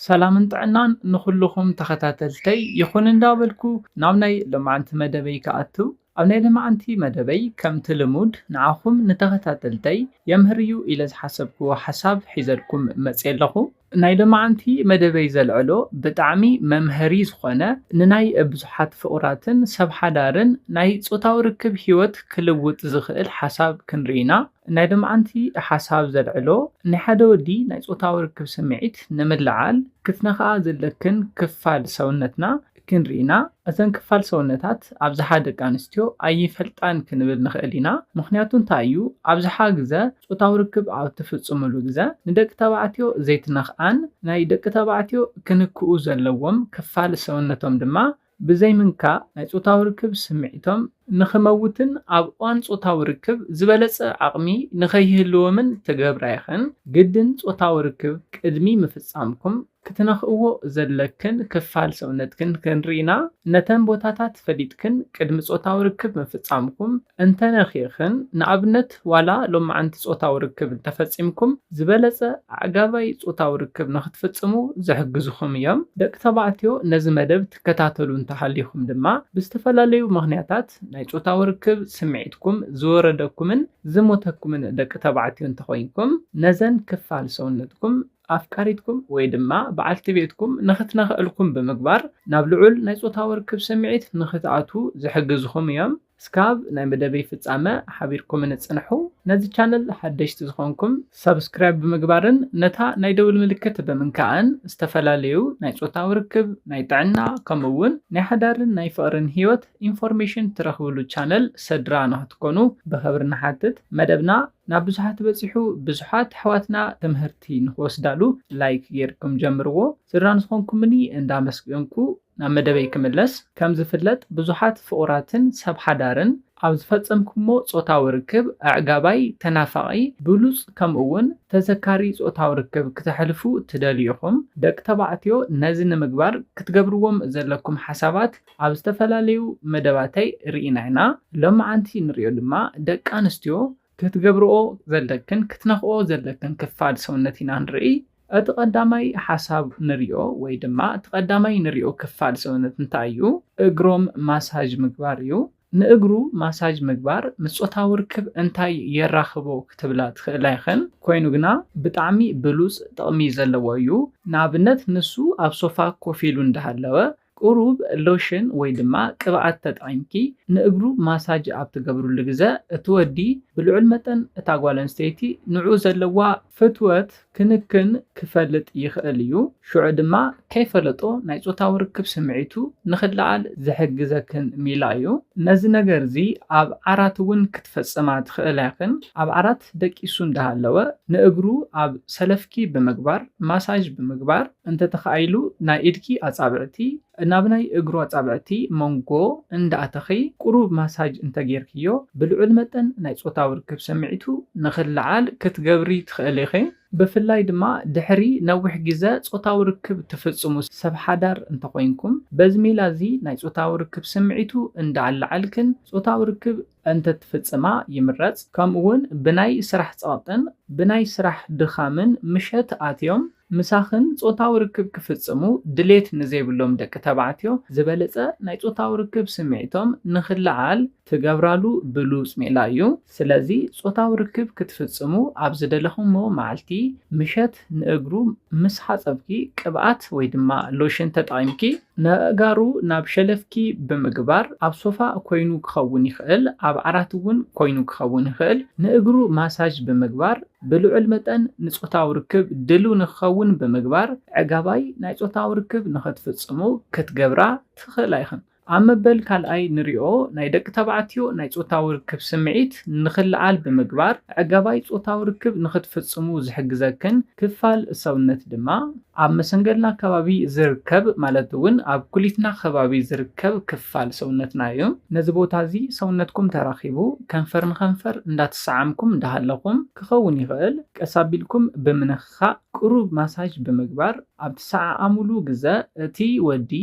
ሰላምን ጥዕናን ንኹሉኹም ተኸታተልተይ ይኹን እንዳበልኩ ናብ ናይ ሎማዕንቲ መደበይ ክኣቱ ኣብ ናይ ለማዕንቲ መደበይ ከምቲ ልሙድ ንዓኹም ንተኸታተልተይ የምህር እዩ ኢለ ዝሓሰብክዎ ሓሳብ ሒዘልኩም መጽየ ኣለኹ ናይ ሎማዕንቲ መደበይ ዘልዕሎ ብጣዕሚ መምሀሪ ዝኾነ ንናይ ብዙሓት ፍቑራትን ሰብ ሓዳርን ናይ ጾታዊ ርክብ ሂወት ክልውጥ ዝኽእል ሓሳብ ክንርኢ ኢና። ናይ ሎምዓንቲ ሓሳብ ዘልዕሎ ናይ ሓደ ወዲ ናይ ጾታዊ ርክብ ስምዒት ንምልዓል ክትነኽኣ ዘለክን ክፋል ሰውነትና ክንርኢ ኢና። እዘን ክፋል ሰውነታት ኣብዝሓ ደቂ ኣንስትዮ ኣይፈልጣን ክንብል ንኽእል ኢና። ምኽንያቱ እንታይ እዩ? ኣብዝሓ ግዘ ጾታዊ ርክብ ኣብ እትፍጽምሉ ግዘ ንደቂ ተባዕትዮ ዘይትነኽኣን ናይ ደቂ ተባዕትዮ ክንክኡ ዘለዎም ክፋል ሰውነቶም ድማ ብዘይምንካእ ናይ ጾታዊ ርክብ ስምዒቶም ንኽመውትን ኣብ እዋን ጾታዊ ርክብ ዝበለጸ ዓቕሚ ንኸይህልዎምን ትገብራ ኢኽን። ግድን ጾታዊ ርክብ ቅድሚ ምፍጻምኩም ክትነኽእዎ ዘለክን ክፋል ሰውነትክን ክንርኢና፣ ነተን ቦታታት ፈሊጥክን ቅድሚ ጾታዊ ርክብ ምፍጻምኩም እንተነኺእኽን፣ ንኣብነት፣ ሰባት ዋላ ሎምዓንቲ ጾታዊ ርክብ እንተፈጺምኩም ዝበለጸ ኣዕጋባይ ጾታዊ ርክብ ንኽትፍጽሙ ዝሕግዝኹም እዮም። ደቂ ተባዕትዮ ነዚ መደብ ትከታተሉ እንተሃሊኹም ድማ ብዝተፈላለዩ ምኽንያታት ናይ ጾታዊ ርክብ ስምዒትኩም ዝወረደኩምን ዝሞተኩምን ደቂ ተባዕትዮ እንተኾይንኩም ነዘን ክፋል ሰውነትኩም ኣፍቃሪትኩም ወይ ድማ በዓልቲ ቤትኩም ንኽትነኽእልኩም ብምግባር ናብ ልዑል ናይ ጾታዊ ርክብ ስምዒት ንኽትኣትዉ ዝሕግዝኹም እዮም። እስካብ ናይ መደበይ ፍጻመ ሓቢርኩምኒ ጽንሑ። ነዚ ቻነል ሓደሽቲ ዝኾንኩም ሳብስክራይብ ብምግባርን ነታ ናይ ደውል ምልክት ብምንካእን ዝተፈላለዩ ናይ ጾታዊ ርክብ፣ ናይ ጥዕና ከምኡ ውን ናይ ሓዳርን ናይ ፍቕርን ሂወት ኢንፎርሜሽን ትረኽብሉ ቻነል ሰድራ ንኽትኮኑ ብኽብሪ ንሓትት። መደብና ናብ ብዙሓት በጺሑ ብዙሓት ኣሕዋትና ትምህርቲ ንኽወስዳሉ ላይክ ጌርኩም ጀምርዎ። ስድራ ንዝኾንኩምኒ እንዳመስገንኩ ናብ መደበይ ክምለስ፣ ከም ዝፍለጥ ብዙሓት ፍቑራትን ሰብ ሓዳርን ኣብ ዝፈጸምኩሞ ጾታዊ ርክብ ኣዕጋባይ፣ ተናፋቒ፣ ብሉጽ ከምኡ'ውን ተዘካሪ ጾታዊ ርክብ ክተሕልፉ ትደልዩ ኢኹም። ደቂ ተባዕትዮ ነዚ ንምግባር ክትገብርዎም ዘለኩም ሓሳባት ኣብ ዝተፈላለዩ መደባተይ ርኢና ኢና። ሎምዓንቲ ንሪኦ ድማ ደቂ ኣንስትዮ ክትገብርኦ ዘለክን ክትነኽኦ ዘለክን ክፋል ሰውነት ኢና ንርኢ። እቲ ቀዳማይ ሓሳብ ንሪኦ ወይ ድማ እቲ ቀዳማይ ንሪኦ ክፋል ሰውነት እንታይ እዩ? እግሮም ማሳጅ ምግባር እዩ። ንእግሩ ማሳጅ ምግባር ምስ ጾታዊ ርክብ እንታይ የራኽቦ ክትብላ ትኽእላ ኢኽን። ኮይኑ ግና ብጣዕሚ ብሉጽ ጥቕሚ ዘለዎ እዩ። ንኣብነት ንሱ ኣብ ሶፋ ኮፍ ኢሉ እንዳሃለወ ቁሩብ ሎሽን ወይ ድማ ቅብኣት ተጠቒምኪ ንእግሩ ማሳጅ ኣብ ትገብርሉ ግዘ እቲ ወዲ ብልዑል መጠን እታ ጓል ኣንስተይቲ ንዕኡ ዘለዋ ፍትወት ክንክን ክፈልጥ ይኽእል እዩ፣ ሽዑ ድማ ከይፈለጦ ናይ ፆታዊ ርክብ ስምዒቱ ንኽለዓል ዝሕግዘክን ሚላ እዩ። ነዚ ነገር እዚ ኣብ ዓራት እውን ክትፈፅማ ትኽእላ ኢኽን፣ ኣብ ዓራት ደቂሱ እንዳሃለወ ንእግሩ ኣብ ሰለፍኪ ብምግባር ማሳጅ ብምግባር፣ እንተ ተኻኢሉ ናይ ኢድኪ ኣጻብዕቲ ናብ ናይ እግሩ ኣጻብዕቲ ሞንጎ እንዳ ኣተኺ ቁሩብ ማሳጅ እንተ ጌርክዮ ብልዑል መጠን ናይ ጾታዊ ርክብ ስምዒቱ ንኽለዓል ክትገብሪ ትኽእሊ ኢኺ። ብፍላይ ድማ ድሕሪ ነዊሕ ግዘ ጾታዊ ርክብ ትፍጽሙ ሰብ ሓዳር እንተ ኾይንኩም በዚ ሜላ እዚ ናይ ጾታዊ ርክብ ስምዒቱ እንዳ ኣለዓልክን ጾታዊ ርክብ እንተ ትፍጽማ ይምረጽ። ከምኡ ውን ብናይ ስራሕ ጸቕጥን ብናይ ስራሕ ድኻምን ምሸት ኣትዮም፣ ምሳኽን ጾታዊ ርክብ ክፍጽሙ ድሌት ንዘይብሎም ደቂ ተባዕትዮ ዝበለጸ ናይ ጾታዊ ርክብ ስምዒቶም ንኽለዓል ትገብራሉ ብሉጽ ሜላ እዩ። ስለዚ ጾታዊ ርክብ ክትፍጽሙ ኣብ ዝደለኹሞ መዓልቲ ምሸት ንእግሩ ምስ ሓጸብኪ ቅብኣት ወይ ድማ ሎሽን ተጠቒምኪ፣ ነእጋሩ ናብ ሸለፍኪ ብምግባር ኣብ ሶፋ ኮይኑ ክኸውን ይኽእል ኣብ ዓራት እውን ኮይኑ ክኸውን ይኽእል ንእግሩ ማሳጅ ብምግባር ብልዑል መጠን ንጾታዊ ርክብ ድልው ንክኸውን ብምግባር ዕጋባይ ናይ ጾታዊ ርክብ ንክትፍጽሙ ክትገብራ ትኽእላ ኢኽን። ኣብ መበል ካልኣይ ንሪኦ ናይ ደቂ ተባዕትዮ ናይ ጾታዊ ርክብ ስምዒት ንክለዓል ብምግባር ዕጋባይ ጾታዊ ርክብ ንክትፍጽሙ ዝሕግዘክን ክፋል ሰውነት ድማ ኣብ መሰንገልና ከባቢ ዝርከብ ማለት እውን ኣብ ኩሊትና ከባቢ ዝርከብ ክፋል ሰውነትና እዩ። ነዚ ቦታ እዚ ሰውነትኩም ተራኺቡ ከንፈር ንከንፈር እንዳተሰዓምኩም እንዳሃለኹም ክኸውን ይኽእል ቀስ ኣቢልኩም ብምንኽኻእ ቅሩብ ማሳጅ ብምግባር ኣብ ትሰዓዓሙሉ ግዘ እቲ ወዲ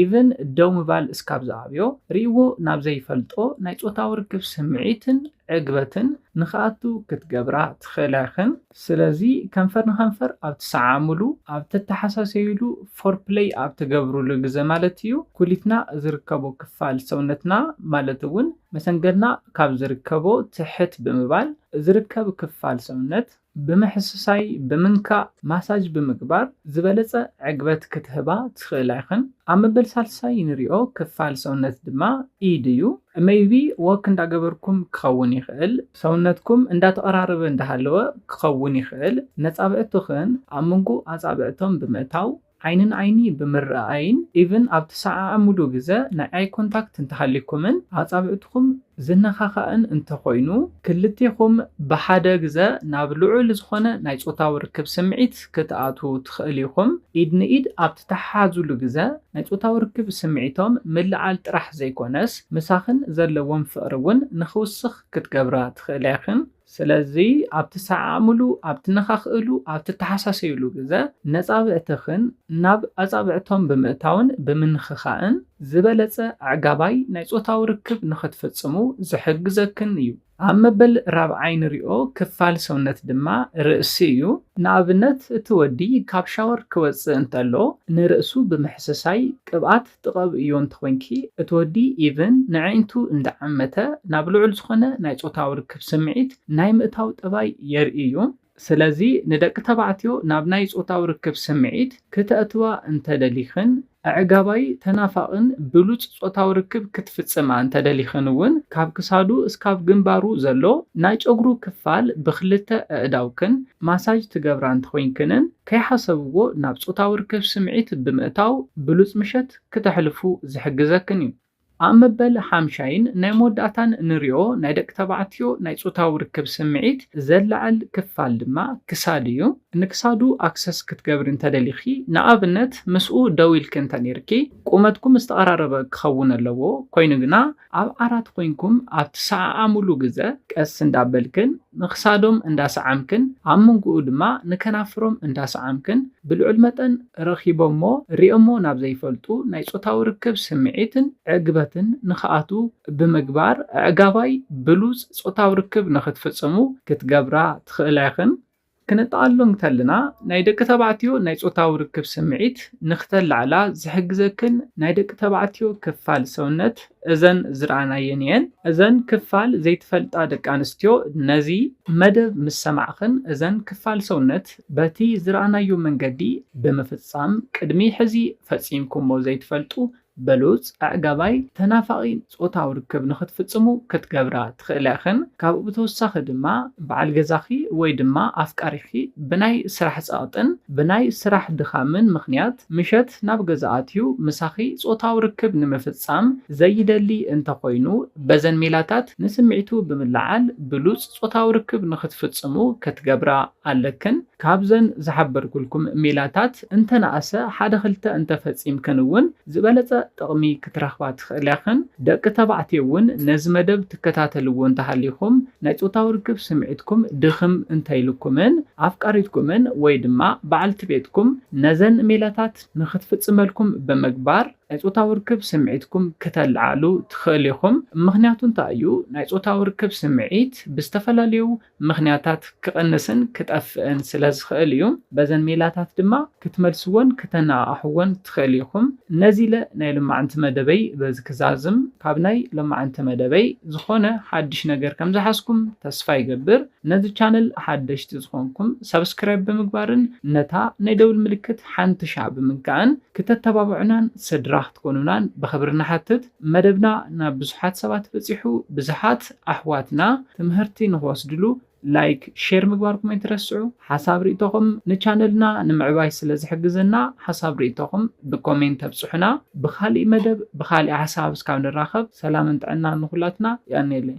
ኢቭን ደው ምባል እስካብ ዝኣብዮ ሪእዎ ናብ ዘይፈልጦ ናይ ፆታዊ ርክብ ስምዒትን ዕግበትን ንክኣቱ ክትገብራ ትኽእላ ኢኽን። ስለዚ ከንፈር ንከንፈር ኣብ ትሰዓዓምሉ፣ ኣብ ተተሓሳሰዩሉ፣ ፎርፕለይ ኣብ ትገብሩሉ ግዘ ማለት እዩ፣ ኩሊትና ዝርከቦ ክፋል ሰውነትና ማለት እውን መሰንገልና ካብ ዝርከቦ ትሕት ብምባል ዝርከብ ክፋል ሰውነት ብምሕስሳይ፣ ብምንካእ፣ ማሳጅ ብምግባር ዝበለፀ ዕግበት ክትህባ ትኽእላ ኢኽን። ኣብ መበል ሳልሳይ ንሪኦ ክፋል ሰውነት ድማ ኢድ እዩ። መይቢ ዎክ እንዳገበርኩም ክኸውን ይኽእል፣ ሰውነትኩም እንዳተቐራረበ እንዳሃለወ ክኸውን ይኽእል። ነጻብዕቱኽን ኣብ መንጎ ኣጻብዕቶም ብምእታው ዓይኒ ንዓይኒ ብምርኣኣይን ኢቭን ኣብ ትሰዓዓምሉ ግዘ ናይ ኣይ ኮንታክት እንተሃልዩኩምን ኣጻብዕቱኹም ዝነኻኻእን እንተኾይኑ ክልቴኹም ብሓደ ግዘ ናብ ልዑል ዝኾነ ናይ ጾታዊ ርክብ ስምዒት ክትኣትዉ ትኽእል ኢኹም። ኢድ ንኢድ ኣብ ትተሓሓዙሉ ግዘ ናይ ጾታዊ ርክብ ስምዒቶም ምልዓል ጥራሕ ዘይኮነስ ምሳኽን ዘለዎም ፍቕሪ እውን ንኽውስኽ ክትገብራ ትኽእላ ኢኽን። ስለዚ ኣብ ትሰዓዓምሉ፣ ኣብ ትነኻኽእሉ፣ ኣብ ትተሓሳሰዩሉ ግዘ ነፃብዕትኽን ናብ ኣፃብዕቶም ብምእታውን ብምንኽኻእን ዝበለፀ ኣዕጋባይ ናይ ፆታዊ ርክብ ንኽትፍፅሙ ዝሕግዘክን እዩ። ኣብ መበል ራብዓይ ንሪኦ ክፋል ሰውነት ድማ ርእሲ እዩ። ንኣብነት እቲ ወዲ ካብ ሻወር ክወፅእ እንተሎ ንርእሱ ብምሕስሳይ ቅብኣት ክትቐብእዮ እንተኾይንኪ እቲ ወዲ even ነዐይንቱ እንዳዐመተ ናብ ልዑል ዝኾነ ናይ ጾታዊ ርክብ ስምዒት ናይ ምእታው ጠባይ የርኢ እዩ። ስለዚ ንደቂ ተባዕትዮ ናብ ናይ ጾታዊ ርክብ ስምዒት ክተእትዋ እንተደሊኽን ኣዕጋባይ፣ ተናፋቕን ብሉጽ ጾታዊ ርክብ ክትፍጽማ እንተደሊኽን እውን ካብ ክሳዱ እስካብ ግንባሩ ዘሎ ናይ ጨጉሩ ክፋል ብኽልተ ኣእዳውክን ማሳጅ ትገብራ እንተኾይንክንን ከይሓሰብዎ ናብ ጾታዊ ርክብ ስምዒት ብምእታው ብሉጽ ምሸት ክተሕልፉ ዝሕግዘክን እዩ። ኣብ መበል ሓምሻይን ናይ መወዳእታን ንሪኦ ናይ ደቂ ተባዕትዮ ናይ ጾታዊ ርክብ ስምዒት ዘለዓዕል ክፋል ድማ ክሳድ እዩ። ንክሳዱ ኣክሰስ ክትገብሪ እንተደሊኺ፣ ንኣብነት ምስኡ ደው ኢልኪ እንተኔርኪ፣ ቁመትኩም ዝተቐራረበ ክኸውን ኣለዎ፣ ኮይኑ ግና፣ ኣብ ዓራት ኮይንኩም ኣብ ትሰዓዓሙሉ ግዘ ቀስ እንዳበልክን ንክሳዶም እንዳሰዓምክን ኣብ ምንጉኡ ድማ ንከናፍሮም እንዳሰዓምክን ብልዑል መጠን ረኺቦሞ ሪኦሞ ናብ ዘይፈልጡ ናይ ፆታዊ ርክብ ስምዒትን ዕግበትን ንክኣትው ብምግባር ኣዕጋባይ ብሉፅ ፆታዊ ርክብ ንክትፍፅሙ ክትገብራ ትኽእላ ኢኽን። ክነጠቓሉ እንከለና ናይ ደቂ ተባዕትዮ ናይ ጾታዊ ርክብ ስምዒት ንክተላዕላ ዝሕግዘክን ናይ ደቂ ተባዕትዮ ክፋል ሰውነት እዘን ዝረኣናየን እየን። እዘን ክፋል ዘይትፈልጣ ደቂ ኣንስትዮ ነዚ መደብ ምስ ሰማዕክን እዘን ክፋል ሰውነት በቲ ዝረኣናዮ መንገዲ ብምፍጻም ቅድሚ ሕዚ ፈጺምኩሞ ዘይትፈልጡ በሉጽ ኣዕጋባይ ተናፋቒ ጾታዊ ርክብ ንኽትፍጽሙ ክትገብራ ትኽእላ ኢኽን። ካብኡ ብተወሳኺ ድማ በዓል ገዛኺ ወይ ድማ ኣፍቃሪኺ ብናይ ስራሕ ጸቕጥን ብናይ ስራሕ ድኻምን ምኽንያት ምሸት ናብ ገዛ ኣትዩ ምሳኺ ጾታዊ ርክብ ንምፍጻም ዘይደሊ እንተኾይኑ በዘን ሜላታት ንስምዒቱ ብምልዓል ብሉጽ ጾታዊ ርክብ ንኽትፍጽሙ ክትገብራ ኣለክን። ካብዘን ዝሓበርኩልኩም ሜላታት እንተነኣሰ ሓደ ክልተ እንተፈጺምክን እውን ዝበለጸ ጥቕሚ ክትረኽባ ትኽእላ ኢኽን። ደቂ ተባዕትዮ እውን ነዚ መደብ ትከታተልዎ እንተሃሊኹም ናይ ጾታዊ ርክብ ስምዒትኩም ድኽም እንተኢሉኩምን ኣፍቃሪትኩምን ወይ ድማ በዓልቲ ቤትኩም ነዘን ሜላታት ንክትፍጽመልኩም ብምግባር ናይ ጾታዊ ርክብ ስምዒትኩም ክተለዓዕሉ ትኽእሉ ኢኹም። ምኽንያቱ እንታይ እዩ ናይ ጾታዊ ርክብ ስምዒት ብዝተፈላለዩ ምኽንያታት ክቕንስን ክጠፍእን ስለ ዝኽእል እዩ። በዘን ሜላታት ድማ ክትመልስዎን ክተነቓቕሕዎን ትኽእል ኢኹም። ነዚ ኢለ ናይ ሎማዕንቲ መደበይ በዚ ክዛዝም። ካብ ናይ ሎማዕንቲ መደበይ ዝኾነ ሓድሽ ነገር ከም ዝሓዝኩም ተስፋ ይገብር። ነዚ ቻነል ሓደሽቲ ዝኾንኩም ሳብስክራይብ ብምግባርን ነታ ናይ ደውል ምልክት ሓንቲ ሻዕ ብምንካእን ክተተባብዑናን ስድራ ክትኮኑናን ብኽብሪ ንሓትት። መደብና ናብ ብዙሓት ሰባት በጺሑ ብዝሓት ኣሕዋትና ትምህርቲ ንክወስድሉ ላይክ ሼር ምግባርኩም ኣይትረስዑ ሓሳብ ሪኢቶኹም ንቻነልና ንምዕባይ ስለ ዝሕግዘና ሓሳብ ሪኢቶኹም ብኮሜንት ኣብፅሑና ብኻሊእ መደብ ብኻሊእ ሓሳብ እስካብ ንራኸብ ሰላምን ጥዕናን ንኹላትና የቀንየለይ።